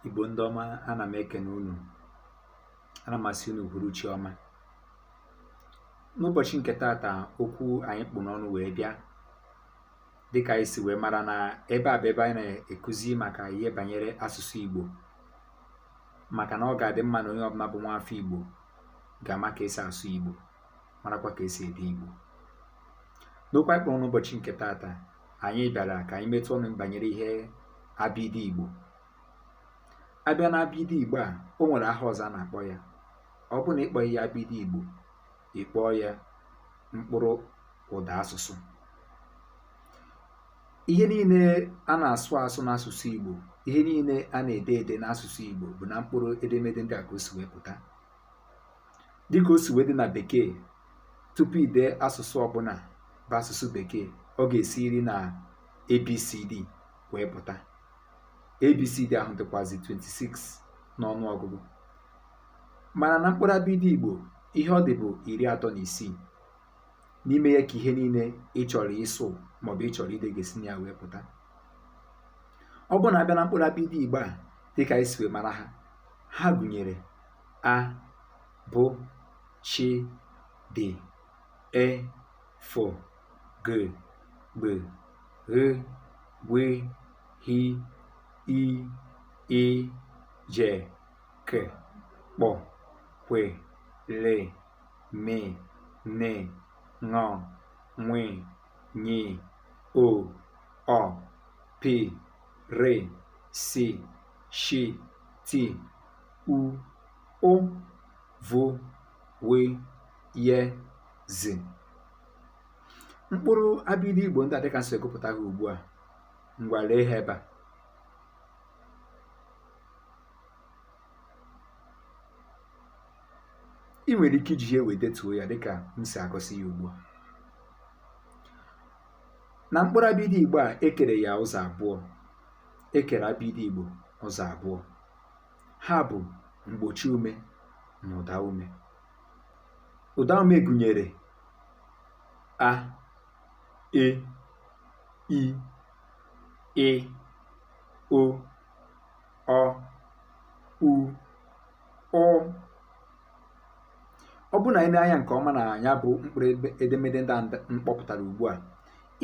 igbo ndị ọma ana m ekene unu ana m asị unu uhuruchi ọma n'ụbọchị nke taata okwu anyị kpụ n'ọnụ wee bịa dịka anyị si wee mara na ebe a bụ ebe anyị na-ekuzi maka ihe banyere asụsụ igbo maka na ọ ga-adị mma na onye ọbụla bụ nwa afọ igbo ga-ama ka esi asụ igbo marakwa ka esi ede igbo n'okwu anyị kpụrụ n'ụbọchị nke taata anyị bịara ka anyị metụ ọnụ banyere ihe abịdị Igbo abịa na abịdị Igbo a o nwere aha ọzọ a na-akpọ ya ọ bụrụ na ị kpọhị ya abịdị Igbo ị kpọọ ya mkpụrụ ụda asụsụ ihe niile a na-asụ asụ n'asụsụ Igbo ihe niile a na-ede ede n'asụsụ Igbo bụ na mkpụrụ edemede ndị a ka o si wee pụta dịka o si wee dị na bekee tupu ide asụsụ ọbụla bụ asụsụ bekee ọ ga-esiriri na abcd wee pụta abcd ahụ dịkwazi 26 n'ọnụ ọgụgụ mana na mkpụrụ abịdị igbo ihe ọ dị bụ iri atọ na isii n'ime ya ka ihe niile ị chọrọ ịsụ maọbụ ị chọrọ ide ga-esi na ya wee pụta ọ bụrụ na abịa na mkpụrụ abịdị igbo a dịka anyị si wee mara ha ha gụnyere a bụ chi dị e fọ gị gbị ghị gwe hi i ị je ke kpọ kwe le me ne ṅọ nwe nyi o ọ pi re si shi ti u ụ vụ wị ye zi mkpụrụ abịdị Igbo ndị a dịka m si wee gụpụta ha ugbu a ngwa lee ha ebe a ị nwere ike iji ihe wee detuo ya dịka m si egosi ya ugbu a na mkpụrụ abịdị Igbo a ekere ya ụzọ abụọ ekere abịdị Igbo ụzọ abụọ ha bụ mgbochi ume na ụda ume ụda ume gụnyere a e i ị o ọ u ụ ọ bụrụ na i nee anya nke ọma na ya bụ mkpụrụ edemede ndị m kpọpụtara ugbu a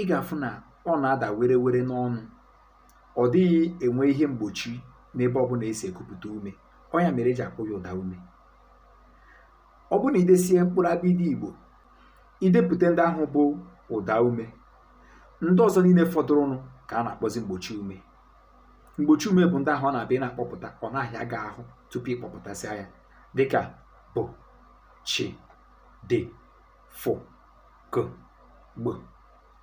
ị ga-afụ na ọ na-ada were were n'ọnụ ọ dịghị enwe ihe mgbochi n'ebe ọ bụla esi ekupụta ume ọ ya mere eji akpọ ya ụda ume ọ bụ na idesie mkpụrụ abịdị igbo idepụta ndị ahụ bụ ụda ume ndị ọzọ niile fọdụrụnụ ka a na-akpọzi mgbochi ume mgbochi ume bụ ndị ahụ ọ na-abụ ị na-akpọpụta ọ na-ahịa gị ahụ tupu ịkpọpụtasịa ya dịka bụ chi dị fụ gụ gbụ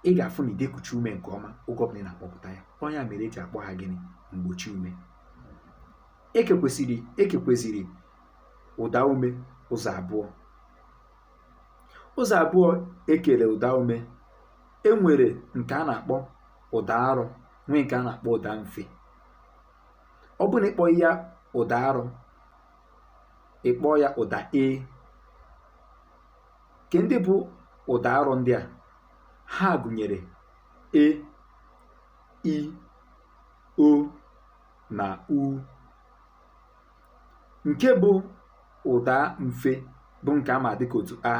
ị ga-afụ na ị da ekuchi ume nke ọma oge ọbụla ị na-akpọpụta ya ọ ya mere eji akpọ ha gịnị mgbochi ume ekekweziri ekekweziri ụda ume ụzọ abụọ ụzọ abụọ ekere ụda ume enwere nke a na-akpọ ụda arọ nwee nke a na-akpọ ụda mfe ọ bụ na ị kpọghị ya ụda arọ ị kpọọ ya ụda e ke ndị bụ ụda arọ ndị a ha gụnyere e i o na u nke bụ ụda mfe bụ nke a ma dịka otu a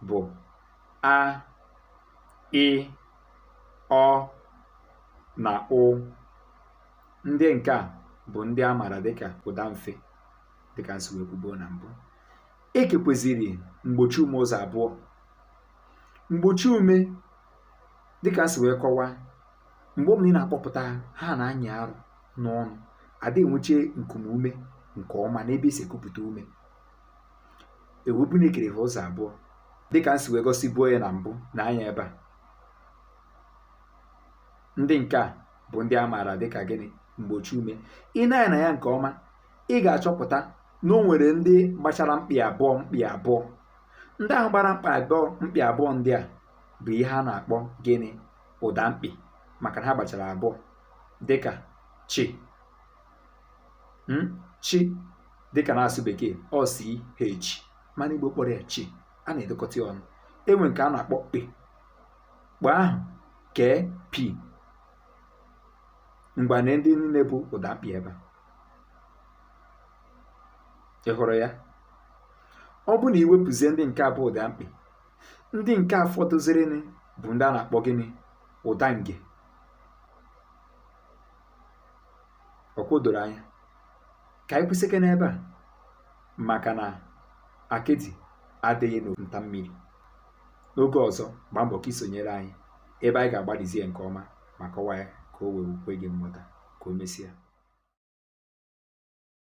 bụ a ị ọ na ụ ndị nke a bụ ndị a maara dịka ụda mfe dịka m si wee kwubuo na mbụ ekekweziri mgbochi ume ụzọ abụọ mgbochi ume dịka m si wee kọwaa mgbe ọbụla ị na-akpọpụta ha na-anyị arụ n'ọnụ ada enweche nku ume nke ọma n'ebe esi ekupụta ume ewepụ na ekere ha ụzọ abụọ dịka m si wee gosibuo ya na mbụ nee anya ebe a ndị nke a bụ ndị a maara dịka gịnị mgbochi ume i nee anya na ya nke ọma ị ga-achọpụta na o nwere ndị gbachara mkpị abụọ mkpị abụọ ndị ahụ gbara mkpị abụọ mkpị abụọ ndị a bụ ihe a na-akpọ gịnị ụda mkpị maka na ha gbachara abụọ dịka chi hmm? chi dịka na-asụ bekee ọ c h mana igbo kpọrọ ya chi a na-edekọta ya ọnụ enwee nke a na-akpọ kpe kpe ahụ k p ngwa nee ndị niile bụ ụda mkpị ebe a ị hụrụ ya ọ bụ na iwepụzie ndị nke a bụ ụda mkpị ndị nke a fọdụzịrịnụ bụ ndị a na-akpọ gịnị ụda nge ọkwa o doro anya ka anyị kwụsịkwa n'ebe a maka na akịdị ada eghe na nta mmiri n'oge ọzọ gbaa mbọ ka isonyere anyị ebe anyị ga-agbalịzie nke ọma ma kọwaa ya ka o wee kwe gị nghọta ka o mesịa